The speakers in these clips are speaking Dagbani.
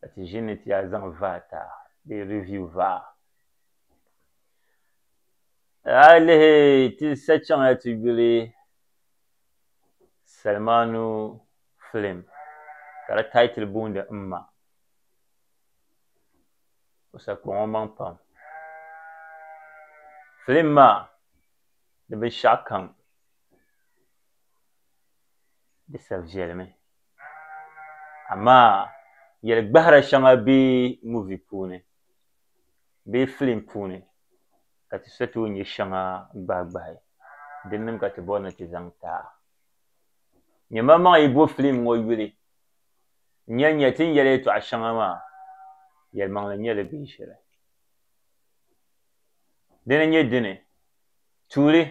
ka ti ʒini ni ti yaa zaŋ vaa ta bee review vaa. A yi lihi ti sachaŋya ti yuli Salmanu film ka di title booni M Ma. O sakpa ŋɔ maŋ pam. Film maa di binshɛɣu kam di sa viɛlimi. amaa yɛli gbahira shɛŋa be muvi puuni bee filim puuni ka ti sa tooi nya shɛŋa gbahigbahi din nim ka ti bɔri ni ti zaŋ ti a. Nyɛmamaŋ yi bo filim ŋɔ yuli n-yɛn nya ti ni yɛli yɛtɔɣ shɛŋa maa yɛlimaŋli n-nyɛ li bee shɛli. Dina n-nyɛ dini, tuuli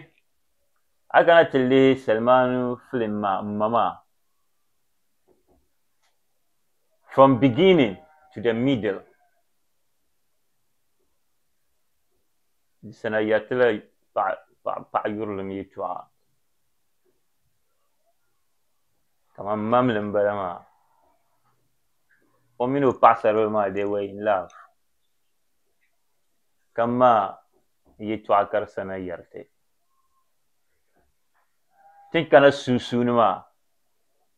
a kana ti lihi Salimaanu filim maa M ma maa From beginning to the middle. Di sana ya ti la paɣa yurilim yɛtɔɣa kamani mamli m-bala maa o mini o paɣisaribila maa they were in love ka ma yɛtɔɣa ka di sana yɛri ti. tin kana sunsuuni maa,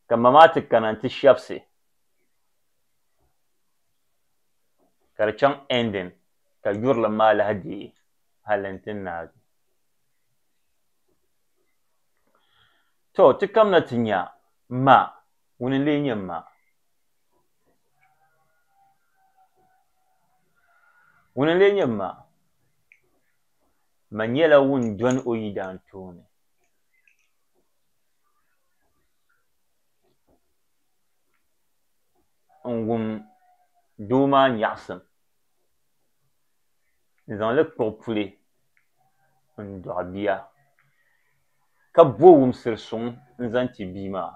ka ma maa ti kana nti shɛbisi ka di chaŋ ending ka yurilim maa lahi deei hali nti naagi. To ti kamina ti nya ma, ŋuni n-lee nyɛ ma? Ŋuni n-lee nyɛ ma? Ma nyɛla ŋun dɔni o yidaan tooni. n-wum doo maa nyaɣisim n-zaŋ li kpuɣi puli n-dɔɣi bia, ka bo wumsir suŋ n-zaŋ ti bia maa.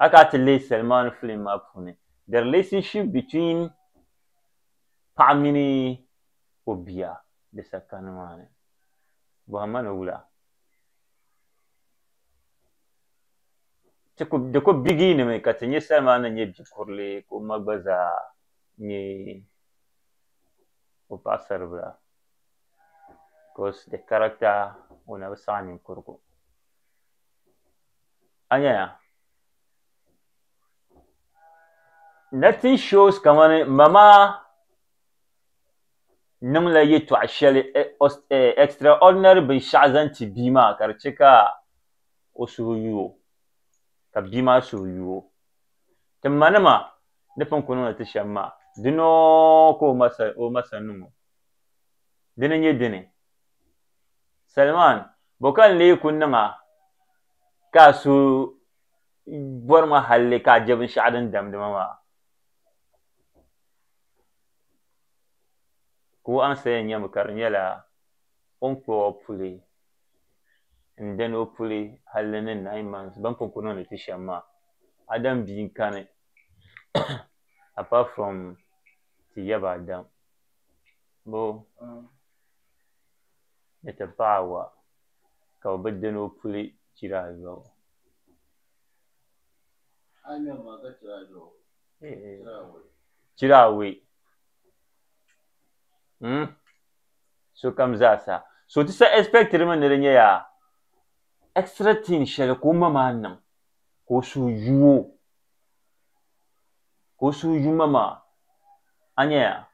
A ka a ti leei salimaani filim maa puuni The Relationship Between paɣa mini o bia di sakani maa ni. Bɔhim ma ni wula? Di ku bigiinimi ka ti nya Salima ni nyɛ bi kurili ka o ma gba zaa nyɛ o paɣisaribila because the character o na bi saɣi ninkurigu. A nyaya? nothing shows kamani ma maa niŋla yɛtɔɣ shɛli eh, os- eh, extraordinary binshɛɣu zaŋ ti bia maa ka di chɛ ka o suhu yu o ka bia maa suhu yu o ti ma nima ni pun ku niŋdi ti shɛm maa dina ka o ma sa- o ma sa niŋ o dini nyɛ dini Salman bɔ ka n lee ku niŋ a ka a suhu bɔri ma halli ka a je binshɛɣu din damdi ma maa? Ka o ansaya nye mi ka di nyɛla, O ni kpuɣi o puli n-dani o puli halli ni nine months bɛn pun ku niŋdi ti shɛm maa. Adam bia n-kani apart from ti yaba Adam bo ni ti paɣa Awa. ka bɛ bi dini o puli chiri ayɔbu. Chiri awei mm sokam zaasa so ti sa expectiri mi ni di nyɛya extra thing shɛli ka o ma maa niŋ ka o suhu yu o ka o suhu yu ma maa a nyɛya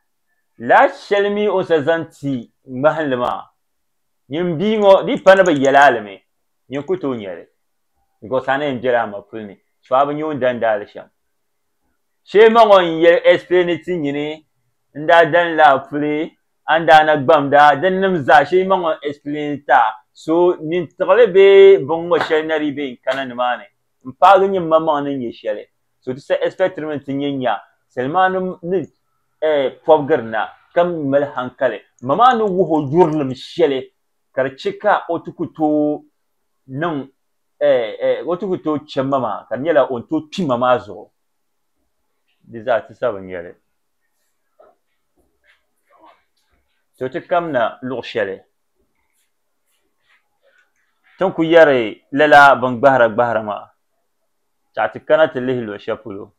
lahi shɛli mi o sa zaŋ ti ŋmahinli maa Nyin bia ŋɔ dii pa ni bɛ yɛl a alimi, nyin ku tooi nya li, bikos a na yɛn bela a ma puli ni, so a bi nya o ni dan daali shɛm. Shee ma ŋɔ n yɛli explaini ti nyini n daa dan li a puli, a ni daa na gbamd a dinnim zaa, shee ma ŋɔ n explaini ti a, so nyin tiɣili bee biŋŋɔ shɛli na dii be n kana nimaani. n paagi nyɛ mmaŋmaŋ ni nyɛ shɛli, so ti sa ɛspɛktiri mi nti nyɛ nya salimanim ni pɔbigiri na ka mi mali hankali. Mma maa ni wuhi o yurilim shɛli ka di chɛ ka o ti ku tooi niŋ o ti ku tooi chɛ mma maa ka di nyɛla o ni tooi kpi mma maa zuɣu. Di zaa ti sa bi nya li. So ti kamina luɣ shɛli. Ti ni ku yɛri lala bin gbahira gbahira maa, ka ti kana ti lihi luɣ shɛli polo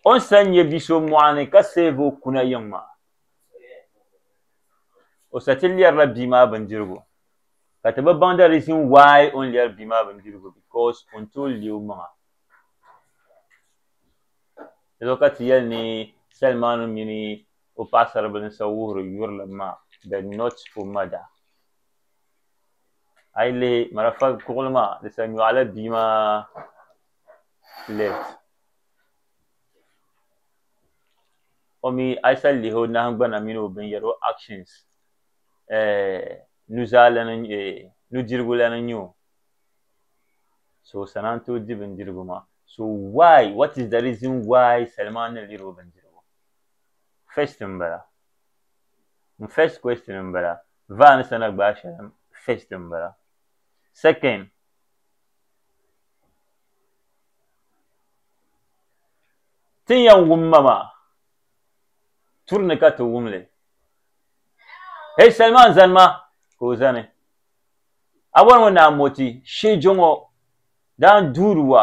o ni sa nya bi so mɔɣuni ka save o kuna yiŋ maa. O sa ti lɛrila bia maa bindirigu, ka ti bi baŋ the reason why o ni lɛri bia maa bindirigu because o ni tooi leei omaŋa. Di zuɣu ka ti yɛli ni salimaanu mini. o paɣasaribili n-siɣi wuhiri yurilim maa, The Not for Murder. A yi lihi marafa kuɣili maa, di sa nyɔɣu la bia maa left. O mi, a yi sa lihi o nahingbana mini o binyɛra, o actions, nuzaa lana n-nyɛ, nudirigu lana n-nyɛ o. So o sana n-tooi di bindirigu maa. So why, what is the reason why Salima ni liri o bindirigu? first n bala n first question n bala vaa ni sana gbaai shɛli n first n bala second ti ni yɛn wum ma maa turi ni ka ti wumli hei salima n zani ma ka o zani a bɔri ŋɔ naa moti shee jɔŋɔ daan duuri wa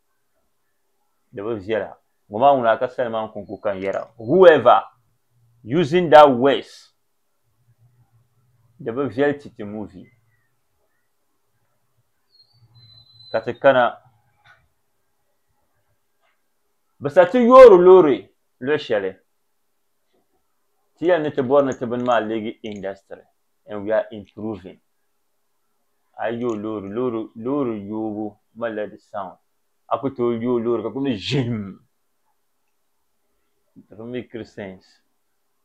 di bi viɛla ŋɔ maa ŋuna ka sali maa n-kun ku kan yɛra whoever using that words di bi viɛli ti ti muvi ka ti kana bi sa ti yoori loori luɣ shɛli ti yɛli ni ti bɔri ni ti bini maa leegi industry and we are improving a yi yooi loori loori loori yoobu malila di sound a ku tooi yooi loori ka ku ni ʒim it doesn't make clear sense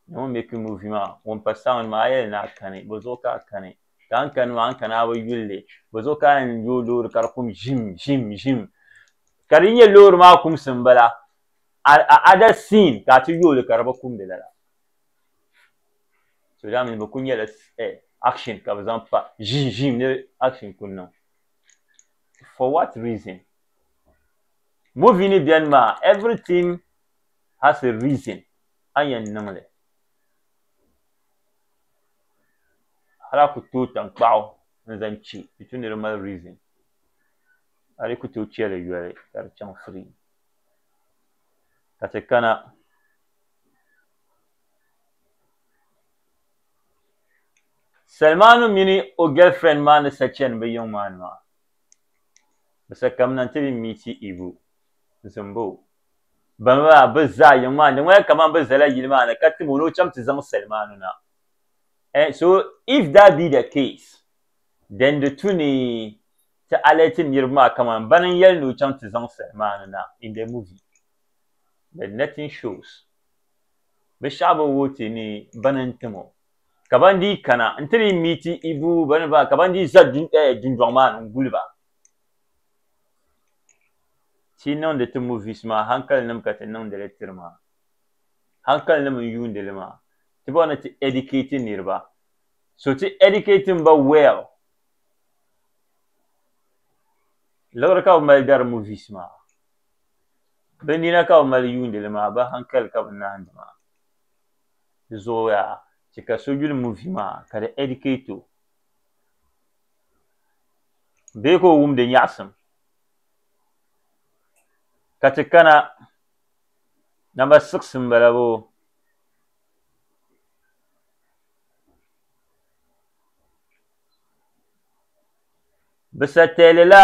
na ŋun meki movie maa ŋun pa sound maa a yɛli ni a kani bɔ zuɣu ka a kani ka a ni kani maa a ni kana a bi yulli bɔ zuɣu ka a yɛn yooi loori ka di kum ʒim ʒim ʒim ka di nyɛ loori maa kumsi m-bala a other scene ka a ti yooi li ka di bi kumdi lala so daa mini bi ku nyɛla action ka bi zaŋ pa ʒiim ʒiim ni action ku niŋ for what reason movie ni biɛni maa everything has a reason a yɛn niŋli hali a ku tooi tankpaɣu n zaŋ chɛ di tu ni di mali reason hali ku tooi chɛli yoli ka di chaŋ free ka ti kana Salmanu mini o girlfriend maa ni sa chani bɛ yiŋ maa ni maa, bɛ sa ka m na nti di meeti Ibu n-zim ba o bani maa bɛ zaa yiŋ maa ni. Di ŋmanila kaman bɛ zala yili maa ni ka tim o ni o chaŋ ti zaŋ Salmanu na. Eh, so if that be the case, then di tu ni ti alert niriba maa kaman bani n-yɛli ni o chaŋ ti zaŋ Salmanu na in the movie. but nothing shows. Bɛ shɛɣu bi wuhi ti ni bɛ ni n-tim o. Ka ban dii kana nti ni meeti Ibu bɛ ni baa ka ban dii za dundɔŋ maa ni n-guli ba. Ti niŋdi ti movies maa hankalinim ka ti niŋdi li tiri maa. Hankalinim n-yuundi li maa. Ti bɔri ni ti educate niriba. So ti educate ba well. Liɣiri ka bɛ mali dari movies maa. Bɛ nina ka bɛ mali yuuni li maa, bɛ hankali ka bɛ naandi maa. Di zooya chɛ ka so yuli muvi maa ka di educate o bee ka o wum di nyaɣisim ka ti kana namba siɣisi m-bala boo. Bɛ sa teelila.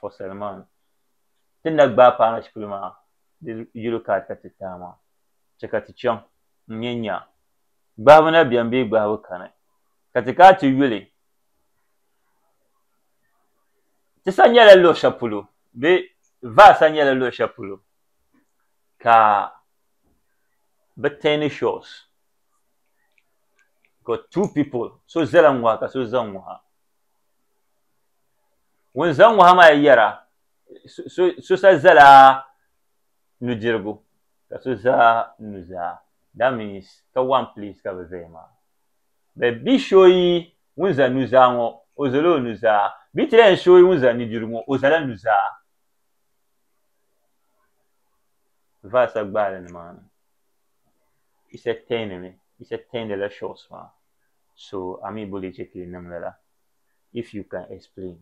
for Salman. Ti ni na gbaai paai Ashipili maa di yuli ka ata ti taai maa, chɛ ka ti chaŋ n-nyɛ nya gbahibu na beni bee gbahibu kani, ka ti ka ti yuli ti sa nyɛla luɣ shɛli polo bee va sa nyɛla luɣ shɛli polo ka bɛ teeni shores, ka two people so zala ŋ-ŋɔha ka so za ŋ-ŋɔha. Ŋun zaŋ ŋɔha maa yɛra, So sa zala nudirigu ka so za nuzaa, that means ka one place ka bɛ zaya maa. Bɛ bi shooyi ŋun za nuzaa ŋɔ, o zala o nuzaa, bɛ ti lahi shooyi ŋun za nudirigu ŋɔ, o zala nuzaa. Verse gbaali nimaani Yisa tɛɛndi mi, Yisa tɛɛndila shores maa. so a mi bo lee che ka yi niŋ lala? If you can explain.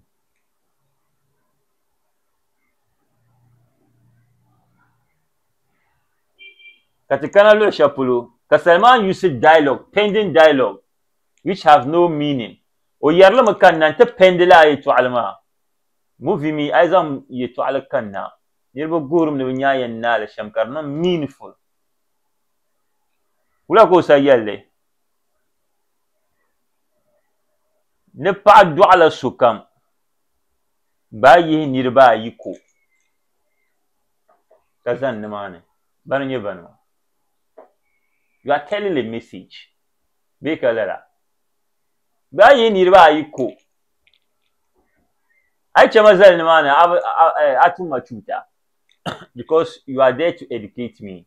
Ka ti kana luɣi shɛli polo ka Salman yusi dialogue, pending dialogue, which have no meaning. O yɛrilimi ka n na nti pɛndi li a yɛtɔɣili maa. Movie mi a yi zaŋ yɛtɔɣili kanna, niriba guhirimi ni bɛ nya a yɛn naali shɛm ka di niŋ meaningful. Wula ka o sa yɛlli? Ni paɣa dɔɣila sokam, bɛ a yihi niriba ayi ko ka zani nimaani, bana n-nyɛ bani maa? You are telling a message bee ka lala? Bɛ a yihi niriba ayi ko, a yi chɛ ma zali nimaani a tum ma chuuta because you are there to educate me.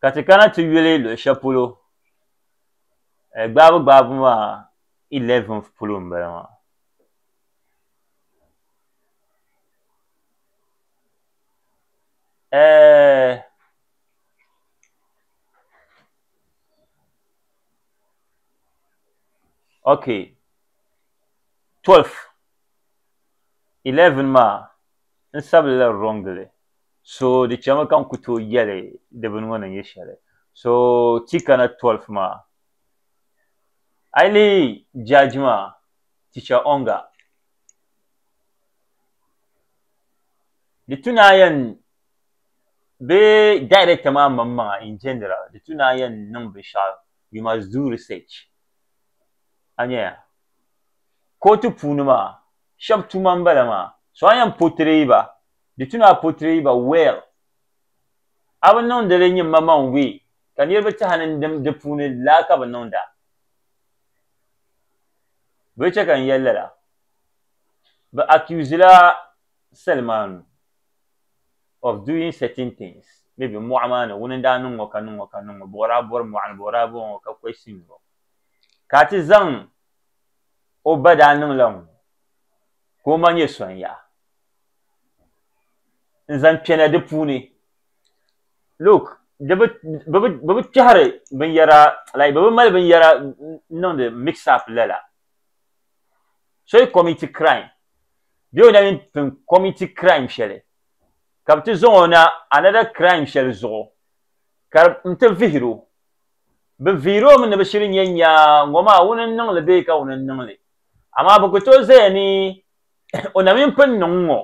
Ka ti kana ti yuli luɣi shɛli polo gbaabu gbaabu maa ilɛvin polo n bala maa ok tɔlf 11 maa, n sabili la wrong li, so di chɛmi ka n ku tooi yɛli di bini ŋɔ ni nyɛ shɛli, so ti kana 12 maa, a yi lihi judge maa, Teacher Onga, di tu naan yɛn, bee director maa maŋmaŋa in general, di tu naan yɛn niŋ binshɛɣu, you must do research, a nyɛya. Kootu puuni maa, shɛb tuma m-bala maa, so a yɛn portray ba, di tu ni a portray ba well. A bi niŋdi li nyimmaman way ka niriba ti a ni dim di puuni laa ka bi niŋd a. Bɛ yi chɛ ka n yɛli lala, bɛ accusila Salmanu of doing certain things, maybe mɔɣu maa ni ŋuni n-daa niŋ ŋɔ ka niŋ ŋɔ ka niŋ ŋɔ, bɔri a bɔri mɔɣu ni, bɔri a bɔŋɔ ka question o, ka a ti zaŋ o ba daa niŋla ŋun ka o ma nyɛ son yaɣa n zaŋ kpɛna di puuni look di bi bi bi bi bi kpɛhiri binyɛra like bi bi mali binyɛra n niŋdi mix up lala so yi committee crime bee o na yi pun committee crime shɛli ka bi ti zaŋ o na another crime shɛli zuɣu ka n ti vihiri o Bɛ viiri o mi ni bɛ shiri nyɛ nyaa ŋɔ maa wuni n-niŋ li bee ka wuni n-niŋ li. Amaa bɛ ku tooi zaya ni o na mini pun niŋ ŋɔ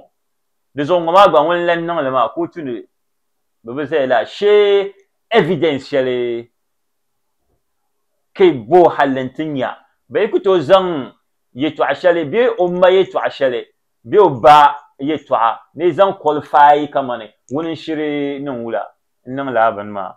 di zuɣu ŋɔ maa gba ŋun lan niŋ li maa kootu ni bɛ bi zaya laa shee evidence shɛli ka bo halli nti nya bɛ yi ku tooi zaŋ yɛtɔɣ shɛli bee o ma yɛtɔɣ shɛli bee o ba yɛtɔɣa ni zaŋ qualify kamani wuni n-shiri niŋ wula n-niŋ lala bini maa.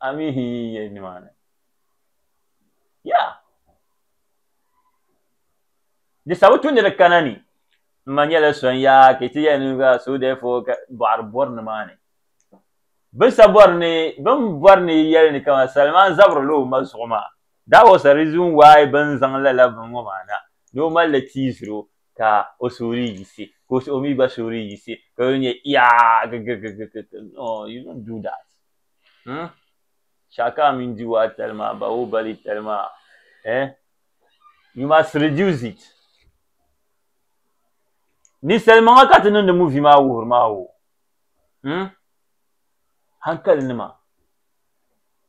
a mi hin yi yɛli nimaani ya di sabu tu ni di kana ni n ma nyɛla so n yaa ka ti yɛli ni ka so dɛfo ka bɔɣiri bɔri nimaani bin sa bɔri ni bin bɔri ni yɛli ni kama salima n zabiri la o ma zuɣu maa that was a reason why bin zaŋ lala bin ŋɔ maa na ni o mali tiisiro ka o suhuri yiɣisi ka o suhu mi gba suhuri yiɣisi ka o nya iyaa gigigigigig no you don't do that hmm shaka mini Giwa tali maa Bahubali tali maa eh you must reduce it ninsalimaŋa ka ti niŋdi movie maa wuhiri maa o hmm hankali nima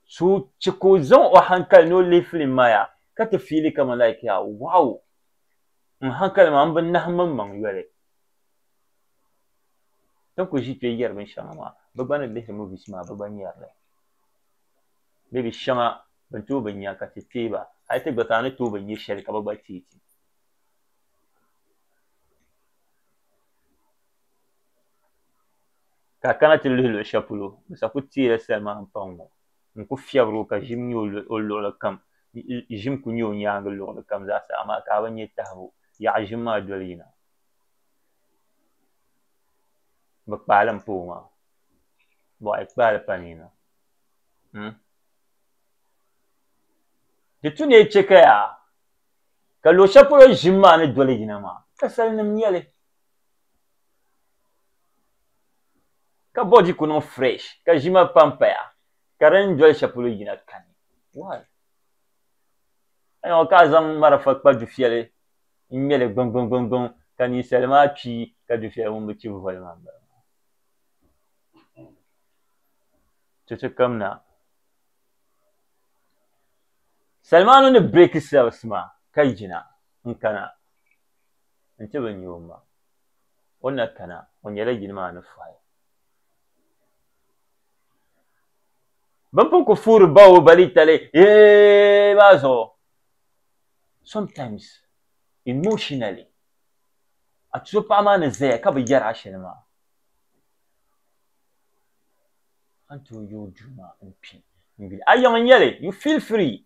so che ka o zaŋ o hankali ni o lihi film maa ya ka ti fiili kaman like yaa wow N hankali maa, m bi nahi mmaŋmaŋ yoli. Ti ni ku ʒi kpe yɛri binshɛŋa maa, bɛ gba ni lihiri movies maa bɛ gba nyari li. Maybe shɛŋa bɛ ni tooi bi nya ka ti teei ba, hali ti gba ka a ni tooi bi nya shɛli ka bɛ gba teei ti. Ka a kana ti lihi luɣ shɛli polo bɛ sa ku teela salima m-paŋ ŋɔ. n ku fiɛbiri o ka ʒim nya o luɣili kam, ʒim ku nya o nyaaŋa luɣili kam zaa sa, amaa ka a bi nya tahibu, yaɣi ʒim maa doli yina. Bɛ kpaali m-pa o maa, bɔh yi kpaali pa ni na, hmm? Di tu neei chɛ ka yaa ka luɣ shɛli polo ʒim maa ni doli yina maa, kasalinim nyɛ li. ka body ku niŋ fresh ka ʒima pa m-paya ka di ni doli shɛli polo yina kani why? Ka nya o ka a zaŋ marafa kpa dufiɛli n-ŋme li gbiŋgbiŋgbiŋgbiŋ ka ninsali maa kpi ka dufiɛli ŋun bi chibi voli maa m-bala maa. Ti ti kamina salimaanu ni breaki cells maa ka yina n-kana nti bi nya o maŋ. o na kana o nyɛla yili maa ni fɔhi. Bɛn pun ku fuuri ba o balitali yee maa zuɣu, sometimes emotionally a tuzo paɣa maa ni zaya ka bi yɛri a shɛli maa, a ni tooi yooi duu maa n-kpi n-yuli a yiŋa n-nyɛli, you feel free.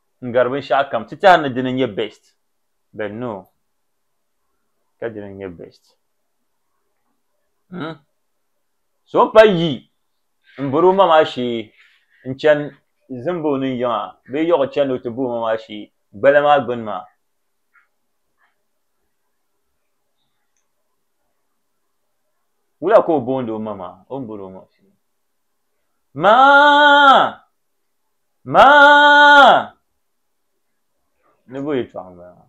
n gari binshɛɣu kam ti tɛha ni dini n-nyɛ best but no ka dini n-nyɛ best hmm? so n pa yi n bori o ma maa shee n chani zimba o ni yiŋa bee yiɣi chani o ti bo o ma maa shee gbala maa gbuni maa wula ka o boondi o ma maa o ni bori o ma shee maa Maa! Ni bo yɛtɔɣa m-bala maa.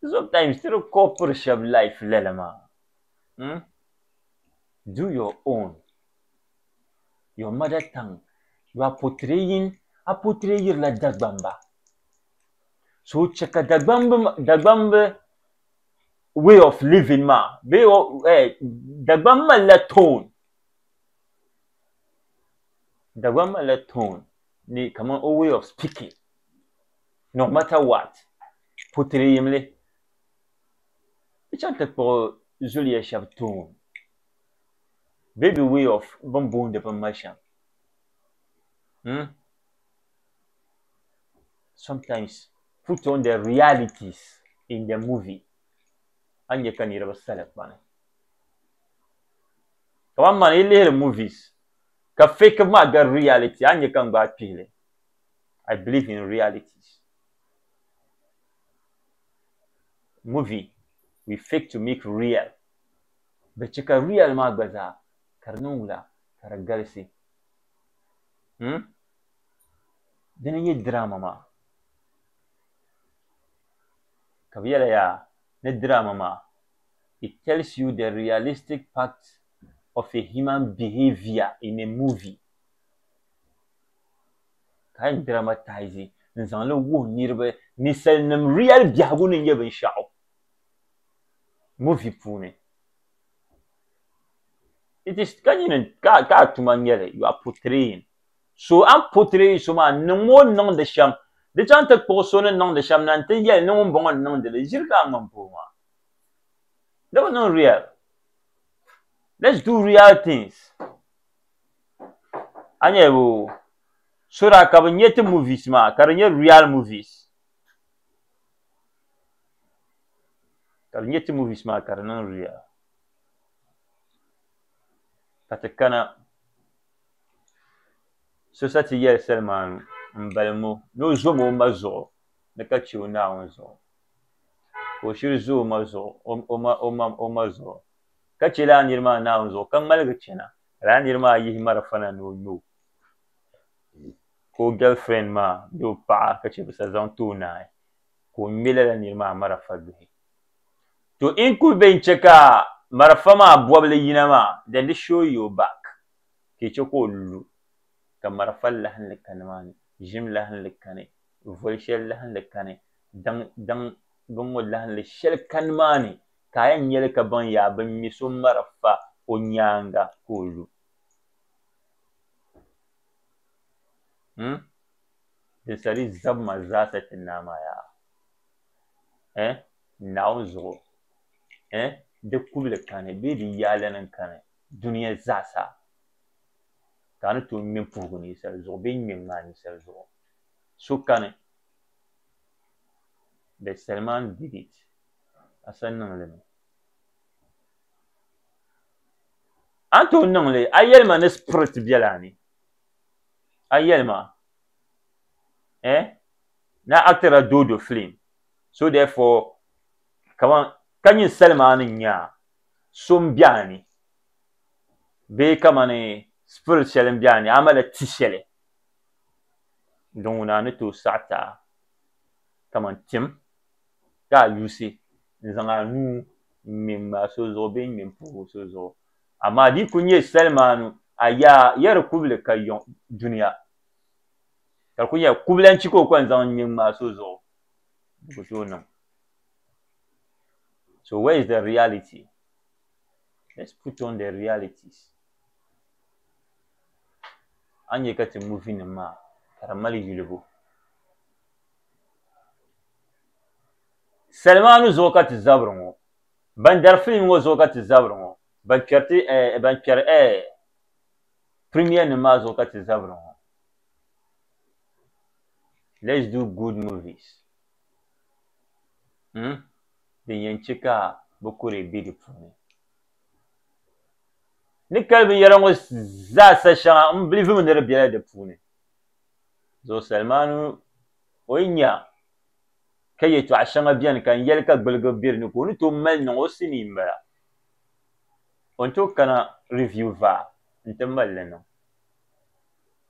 Sometimes ti di koopiri shɛba life lala maa hmm do your own your mother tongue you are portraying a portrayirila Dagbamba so chɛ ka Dagbamba Dagbamba way of living maa bee Dagbaŋ malila tone Dagbaŋ malila tone ni kamani o way of speaking no matter what putiri yimli di chaŋ ti kpuɣi zuliya shɛba tone bee bɛ way of bɛ ni booni bin mali shɛm hmm sometimes. put on the realities in the movie a nya ka niriba sali kpani kamani man yi lihiri movies ka fake maa gari reality a nya ka n gbaai kpihili I believe in realities movie we fake to make real bɛ chɛ ka real maa gba zaa ka di niŋ wula ka di galisi hmm? dini n-nyɛ drama maa Ka bɛ yɛli yaa ni drama maa, it tells you the realistic part of a human behavior in a movie. Ka a yɛn dramatise n-zaŋ li wuhi niriba ninsalinim real biɛhigu ni nyɛ binshɛɣu movie puuni. It is ka nyin ka a tuma n-nyɛli, you are portraying. So a ni po tiri yi so maa, niŋm o ni niŋdi shɛm. Di chaŋ ti kpuɣi so ni niŋdi shɛm na nti yɛli ni ŋumbɔŋɔ n-niŋdi li, ʒiri ka a ŋmani pooi maa. Di bi niŋ real. Let's do real things. A nya o, so daa ka bɛ nya ti movies maa ka di nyɛ real movies. Ka bɛ nya ti movies maa ka di niŋ real. Ka ti kana. So sa ti yɛli salimaanu m-balim o ni o zom o ma zuɣu ni ka che o Naawuni zuɣu, ka o shiri zo o ma zuɣu, ka che lala nir maa Naawuni zuɣu, ka ŋmaligi chana, ka lala nir maa yihi malifana ni o nyo ka o gɛlfirɛnd maa bee o paɣa ka che bɛ sa zaŋ ti o naai, ka o ŋme lala nir maa marafa duhi. To in kuli be n-che ka marafa maa bɔbili yina maa, then di show your back ka i che ka o lu ka marafa lahinli ka nimaani, ʒim lahinli kani, voli shɛli lahinli kani, daŋ daŋ bini ŋɔ lahinli shɛli ka nimaani ka a yɛn nyeli ka baŋ yaa bɛ ŋme so marafa o nyaaŋa ka o lu. Him, din sa di zabima zaasa ti naa maa yaa eh? Naawuni zuɣu, ɛɛh, di kubili kani bee di yaalana n-kani dunia zaasa, ka a ni tooi ŋme puhigu ninsal zuɣu bee ŋme ŋmaa ninsal zuɣu? So kani bɛ Salman David a sa niŋ li mi? A ni tooi niŋ li, a yɛli ma ni spirit biɛla a ni? A yɛli ma, ɛɛh, ni a actira Doodo film? So therefore, kaman ka ninsali maa ni nya so m-be a ni, bee kamani spirit shɛli m-be a ni, a malila ti shɛli din ŋuna a ni tooi saɣi ti a kaman tim ka a yuusi n-zaŋ a nuu m-ŋme m-maa so zuɣu bee n-ŋme m-puhi o so zuɣu. Amaa di yi kul nyɛ salimaanu, a yaa, ya di kubili ka yiŋ dunia, ka di kul nyɛla kubila n-chɛ ka o kɔŋ zaŋ n-ŋme m-maa so zuɣu. di ku tooi niŋ so where is the reality let's put on the realities a ni nyɛ ka ti muvi nim maa ka di mali yulibu salimaanu zuɣu ka ti zabiri ŋɔ ban dari filim ŋɔ zuɣu ka ti zabiri ŋɔ ban kpɛri ti eh, ban kpɛri eh, premier nim maa zuɣu ka ti zabiri ŋɔ let's do good movies hmm din yɛn chɛ ka bɛ kuri bɛ di puuni ni kali binyɛra ŋɔ zaasa shɛŋa n bilivimi ni di bela di puuni zuɣusali maa ni o yi nya ka yɛtɔɣ shɛŋa beni ka n yɛli ka gbuligi be di ni ka o ni tooi mali niŋ o sinii m-bala o ni tooi kana review vaa n-ti mali li niŋ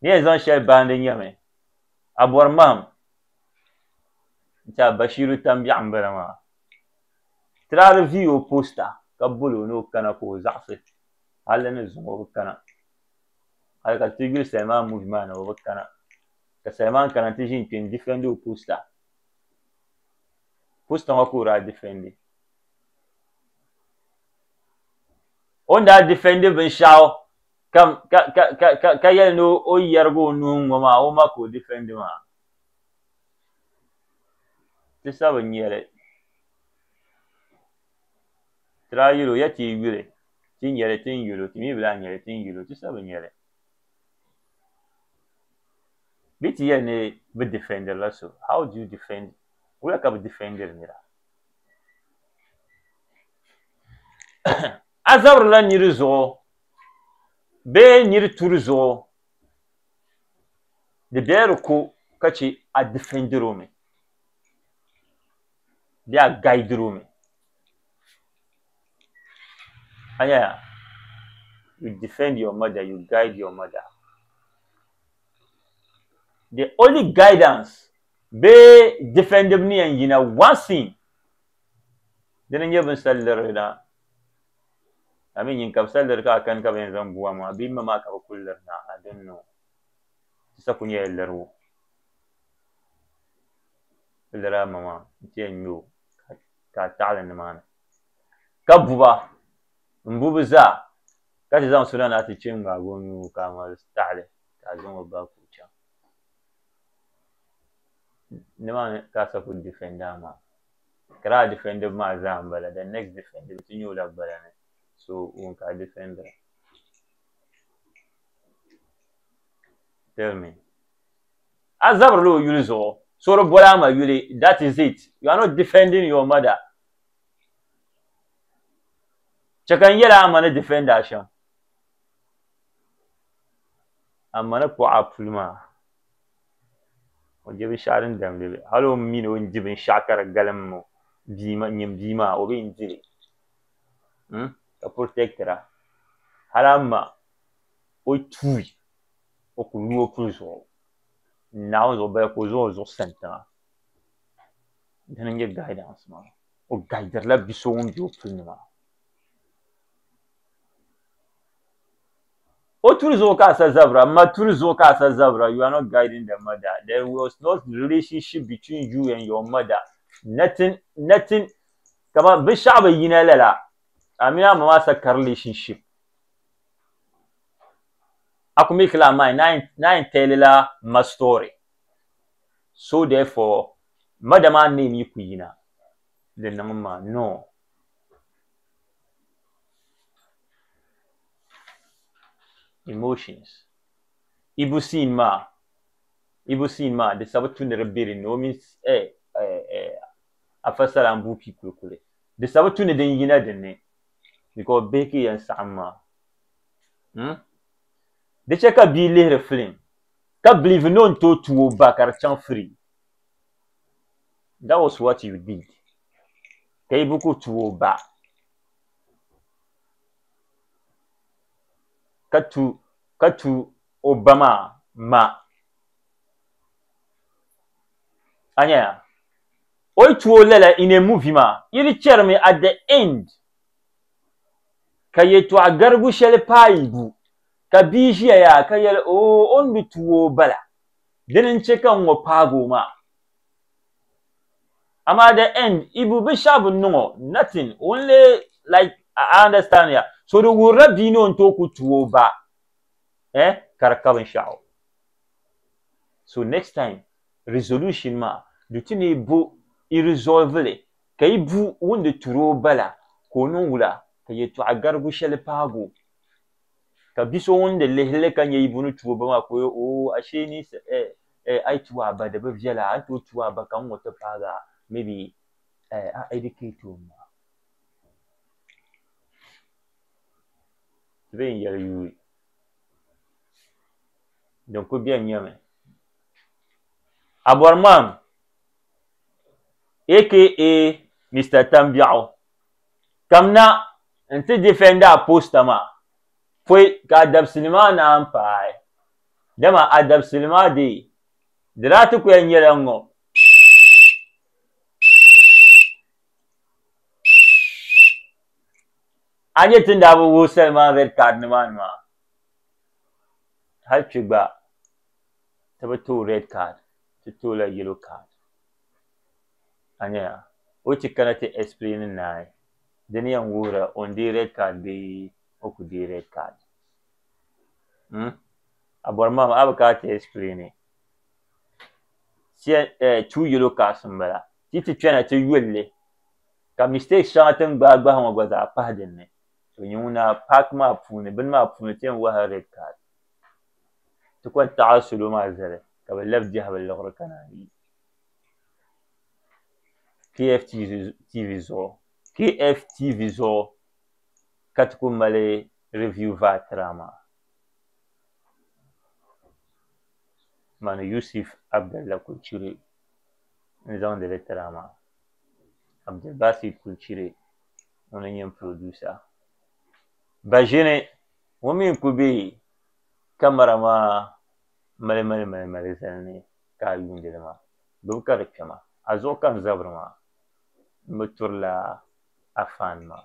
Ni yɛn zaŋ shɛli baandi nyɛmi. A bɔri mahim nti a Bashiru Tambiɛɣu m-bala maa. Tiraali viigi o posta ka boli o ni o kana ka o zaɣisi hali di ni zuŋ o bi kana. Hali ka ti yuli Salman muvi maa ni o bi kana. Ka Salman kana nti ʒini kpe n-difɛndi o posta. Posta ŋɔ ka o daa difɛndi. O ni daa difɛndi binshɛɣu. ka, ka, ka, ka, ka, ka yɛli ni o yɛrigi o nuhi ŋɔ maa o ma ka o difɛndi maa. Ti sa bi nya li. Ti daa yuli o ya ti yi yuli ti nya li ti ni yuli o ti mi bi lahi nya li ti ni yuli o ti sa bi nya li. Bee ti yɛli ni bi difɛndiri la so how do you defend wula ka bi difɛndiri nira. A zabirila niri zuɣu bee niri turi zuɣu di bela di ko ka chɛ a difɛndiri o mi bee a gaidiri o mi. A nya ya? You defend your mother, you guide your mother. The only guidance bee difɛndibu ni yɛn yina one thing dini n-nyɛ bini sal liri na I mean nyin ka bi sa liri ka a kani ka bi yɛn zaŋ bua maa bee m ma maa ka bi kuli liri na I don't know ti sa kuli nyɛla liribu bi liri a ma maa n ti yɛn nya o ka a taɣili ni maa ni ka bu ba m bu bi zaa ka ti zaŋ suna na ti che n ŋmaagi o nuu ka a ma taɣili ka a zaŋ o ba ku chaŋ ni maa ni ka a sa kuli difɛndi a ma. ka lala difɛndiba maa zaa m-bala the next defender bɛ ti nya o la gbaya ni so ŋun ka difɛndira tell me a zabirila o yuli zuɣu so di boli a ma yuli that is it you are not defending your mother chɛ ka n yɛli a ma ni difɛndi a shɛm a ma ni kpuɣi a puli maa o je binshɛɣu din damdi li hali o mi ni o ni di binshɛɣu ka di galim o nyini bia maa o bi yɛn di li ka purotekitira hali a ma o yi tuui o ku yuui o puli zuɣu n naai o zuɣu bala ka o zaŋ o zuɣu sa n tiŋa dini n-nyɛ gaidans maa o gaidirila bi so ŋun be o puli ni maa O turi zuɣu ka a sa zabira, ma turi zuɣu ka a sa zabira, you are not guiding the mother, there was no relationship between you and your mother, nothing, nothing, kaman binshɛɣu bi yina lala, a mini a ma maa sa ka relationship, a ku make la a mind ni a yɛn tell la ma story, so therefore mother maa name yi ku yina di niŋ ma, no. emotions. Ibu siin maa Ibu siin maa di sabu tu ni di be din ni o mini eh, eh, eh, Afa Salaan Buupi Kulikuli. Di sabu tu ni din yina din ni because bihi ka yɛn saɣim maa. Hmm? Di chɛ ka bia lihiri film ka believe ni o ni tooi tu o ba ka di chaŋ free. That was what you did. Ka Ibu ku tu o ba. ka tu ka tu o ba maa ma a nyɛya o yi tu o lala in a movie maa yi di chɛrimi at the end ka yɛtɔɣa garigu shɛli paai bu ka bia ʒiya yaa ka yɛli oo o ni bi tu o bala dini n chɛ ka n ŋɔ paagi o maa Amaa the end ibu bi shɛɣu bi niŋ o nothing only like I understand ya so di wuhirila bia ni o ni tooi ku tuhi o ba eh ka di ka binshɛɣu so next time resolution maa du ti ni bo i resolve li ka yi bu ŋun di turi o ba la ka o niŋ wula ka yɛltɔɣa garigu shɛli paagi o ka bi so ŋun di lihi li ka nya ibu ni tuhi o ba maa ka o yɛl oh ashee ni eh eh, ai tu a ba di bi viɛla a ni tooi tu a ba ka n ŋɔ ti paagi a maybe eh, a educate o ma ti bee yɛli yuui din ku bɛ nyɛmi abɔriman aka mr tambiɛɣu kamna n ti difɛndi a posta maa pɔi ka a dabisili maa naan paai Dama a dabisili maa dee di daa ti ku ya nyɛla ŋ-ŋ-ŋ. A ni nya ti ni daa bi wuhi Salman Red Card ni maa ni maa, hali kpi gba ti bi tooi Red Card, ti tooi la Yellow Card. A nya ya, o yi ti kana ti explaini naai, di ni yɛn wuhiri ya o ni deei Red Card bee o ku deei Red Card. Hmm? A bɔri ma a bi ka ti explain Tia eh, two yellow cars n bala. Ti ti kpɛna ti yulli ka mistake shɛŋa ti ni gbahi gbahi ŋɔ gba zaa pahi din ni. To nyɛ ŋuna park maa puuni bini maa puuni ti yɛn wahi red card. Ti kɔŋ taɣi salo maa zali ka bi labi biɛhi bi liɣiri kana yi KFTV zuɣu. KFTV zuɣu ka ti ku mali Review vaa tira maa mani Yusif Abdalla Kulchiri n zaŋdi li tira maa Abdulbasit Kulchiri ŋun n nyɛ producer baʒini ŋɔ mi n kuli be kamara maa mali mali mali mali zali ni ka a yuuni li maa gbubi ka di kpɛma a zuɣu ka n zabiri maa m bi turila a fan maa.